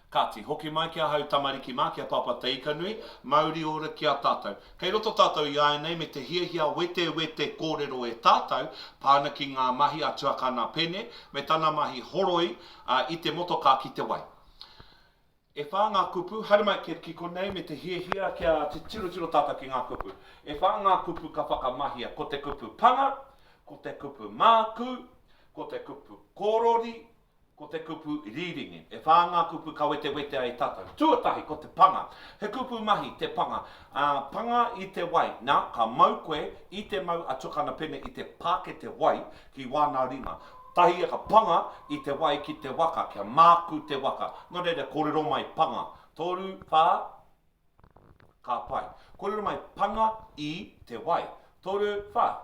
Kāti, hoki mai ki ahau tamariki mā, ki a Pāpā Te Ikanui, mauri ora ki a tātou. Kei roto tātou iāianei me te hiahia wetewete kōrero e tātou, pā ana ki ngā mahi a Tuakana Pene, me tana mahi horoi i te motokā ki te wai. E whā ngā kupu, haere mai ki konei me te hiahia kia titirotiro tātou ki ngā kupu. E whā ngā kupu ka whakamahia, ko te kupu panga, ko te kupu mākū, ko te kupu korori, Ko te kupu rīringi. E whā ngā kupu ka wetewete ai tātou. Tuatahi, ko te panga. He kupu mahi te panga. Ā, panga i te wai. Nā, ka mau koe, i te mau a Tuakana Pene i te pākete wai ki wāna ringa. Tahi ia ka panga i te wai ki te waka, kia māku te waka. Nō reira, kōrero mai panga. Toru, whā, ka pai. Kōrero mai panga i te wai. Toru, whā.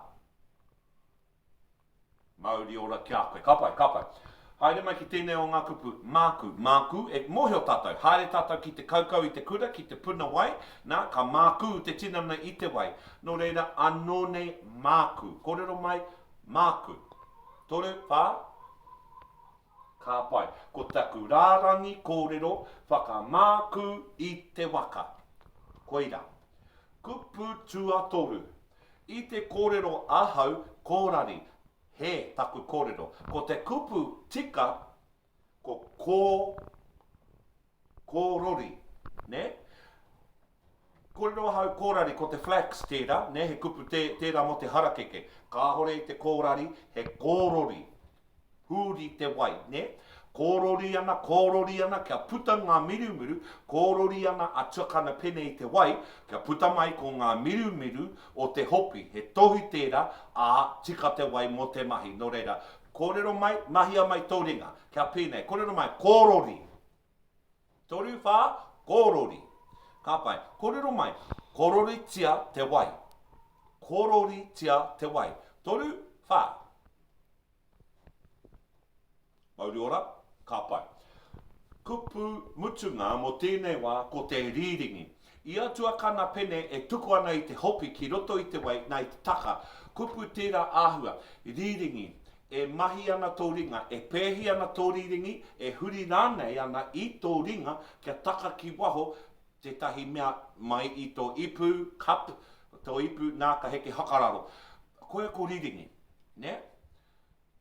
Mauri ora ki a koe. Ka pai, ka pai. Haere mai ki tēnei o ngā kupu. Māku, māku e mōhio tātou. Haere tātou ki te kaukau i te kura, ki te puna wai, nā, ka mākū te tinana i te wai. Nō reira, anō nei māku. Kōrero mai, māku. Toru, whā? Ka pai. Ko taku rārangi kōrero, whakamākū i te waka. Koirā. Kupu tuatoru. I te kōrero ahau kōrari, he taku kōrero. Ko te kupu tika ko kō, kōrori, nē? Kōrero ahau kōrari, ko te flax tērā, nē, he kupu tērā mō te harakeke. Kāore i te kōrari, he kōrori. Huri te wai, nē? Kōrori ana, kōrori ana, kia puta ngā mirumiru, kōrori ana a Tuakana Pene i te wai, kia puta mai ko ngā mirumiru o te hopi. He tohu tērā, ā, tika te wai mō te mahi. Nō reira, kōrero mai, mahia mai tō ringa. Kia pēnei, kōrero mai, kōrori! Toru wha korori. Ka pai. Korero mai. Kororitia te wai. Kororitia te wai. Toru wha. Mauri ora. Ka pai. Kupu mutunga mo tenei wa ko te riringi. Ia tuakana pene e tuku ana i te hopi ki roto i te wai, nā, i te taka, kupu tērā āhua, rīringi, e mahi ana tō ringa, e pēhi ana tō rīringi, e huri rānei ana i tō ringa kia taka ki waho tētahi mea mai i tō ipu, cup, tō ipu, nā, ka heke whakararo. Koia ko rīringi, nē?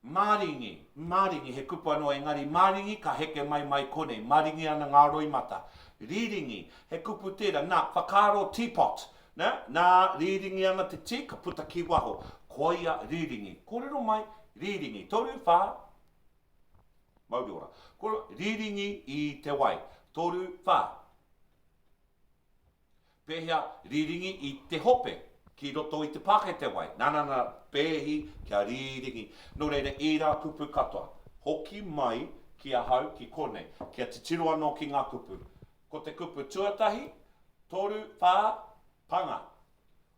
Maringi, maringi, he kupu anō engari maringi ka heke mai mai konei, maringi ana ngā roimata. Rīringi, he kupu tērā, nā, whakaaro teapot, nā, nā, rīringi ana te tī ka puta ki waho, koia rīringi. Kōrero mai, rīringi, toru, whā, mauri ora. Kōrero, rīringi i te wai, toru, whā. Pēhea, rīringi i te hope ki roto i te pākete wai, nana nana, pēhi kia rīringi. Nō reira, ērā kupu katoa, hoki mai ki ahau ki konei, kia titiro anō ki ngā kupu. Ko te kupu tuatahi, toru, whā, panga.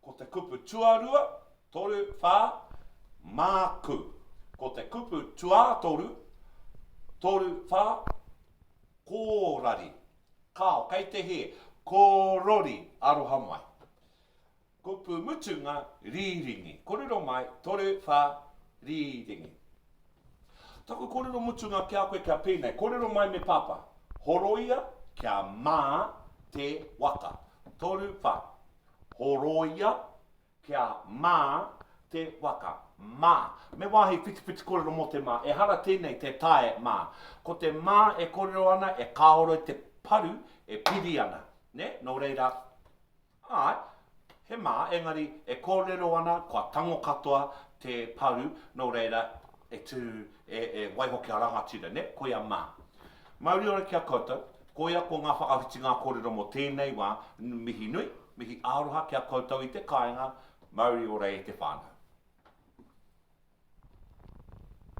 Ko te kupu tuarua, toru, whā, māku. Ko te kupu tuātoru, toru, whā, kōrari. Kao, kei te hē, ko rori, aroha mai. Kupu mutunga, rīringi. Kōrero mai, toru, whā, rīringi. Taku kōrero mutunga ki a koe kia pēnei, kōrero mai me Pāpā. Horoia kia mā te waka. Toru, whā. Horoia Kia mā te waka. Mā. Me wāhi whitiwhiti kōrero mō te mā. Ehara tēnei tē tae mā. Ko te mā e kōrero ana e kāore i te paru e piri ana. Nē? Nō reira, āe, he mā, engari e kōrero ana kua tango katoa te paru, nō reira, e tū, e, e waiho kia rangatira, nē? Koia mā. Mauri ora ki a koutou, koia ko ngā whakawhitinga kōrero mō tēnei wā, mihi nui, mihi aroha ki a koutou i te kāinga, mauri ora e te whānau.